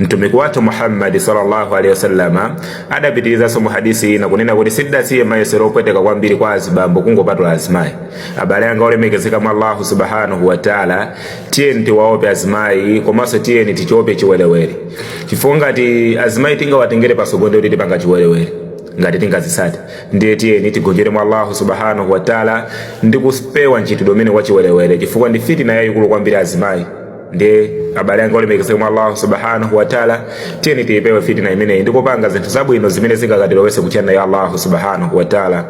mtumiki wathu muhammadi sallallahu alaihi wasallama adapitirizanso mu hadisi ina kunena kuti sindidasiye mayesero opweteka kwambiri kwa azibambo kungopatula azimayi abale anga olemekezeka mwa allahu subhanahu wataala tiyeni tiwaope azimayi komanso tiyeni tichiope chiwerewere chifukwa ngati azimayi tingawatengere pasogolo ndiye kuti tipanga chiwerewere ngati tingawasate ndiye tiyeni tigonjere mwa allahu subhanahu wataala ndi kupewa mchitidwe umenewu wachiwerewere chifukwa ndi fitina yayikulu kwambiri azimayi ndiye abale anga olemekezeka mwa allahu subhanahu wataala tiyeni tiyipewe fitina imeneyi ndikupanga zinthu zabwino zimene zingakatilowese ku jannah ya allahu subhanahu wataala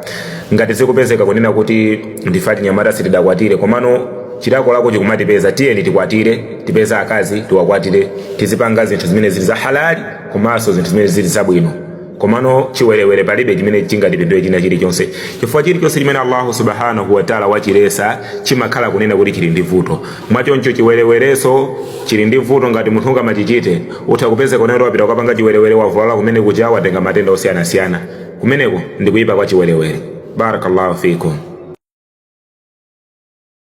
ngati zikupezeka kunena kuti ndife achinyamata sitidakwatire komano chilakolako chikumatipeza tiyeni tikwatire tipeze akazi tiwakwatire tizipanga zinthu zimene zili za halali komanso zinthu zimene zili zabwino komano chiwerewere palibe chimene chingatipindule china chilichonse chifukwa chilichonse chimene allahu subhanahu wataala wachilesa chimakhala kunena kuti chili ndi vuto mwachoncho chiwerewereso chili ndi vuto ngati munthu ungamachichite utha kupeza kunena kuti wapita kukapanga chiwerewere wavulala komwe kuja watenga matenda osiyanasiyana kumeneko ndi kuyipa kwa chiwerewere barakallahu fikum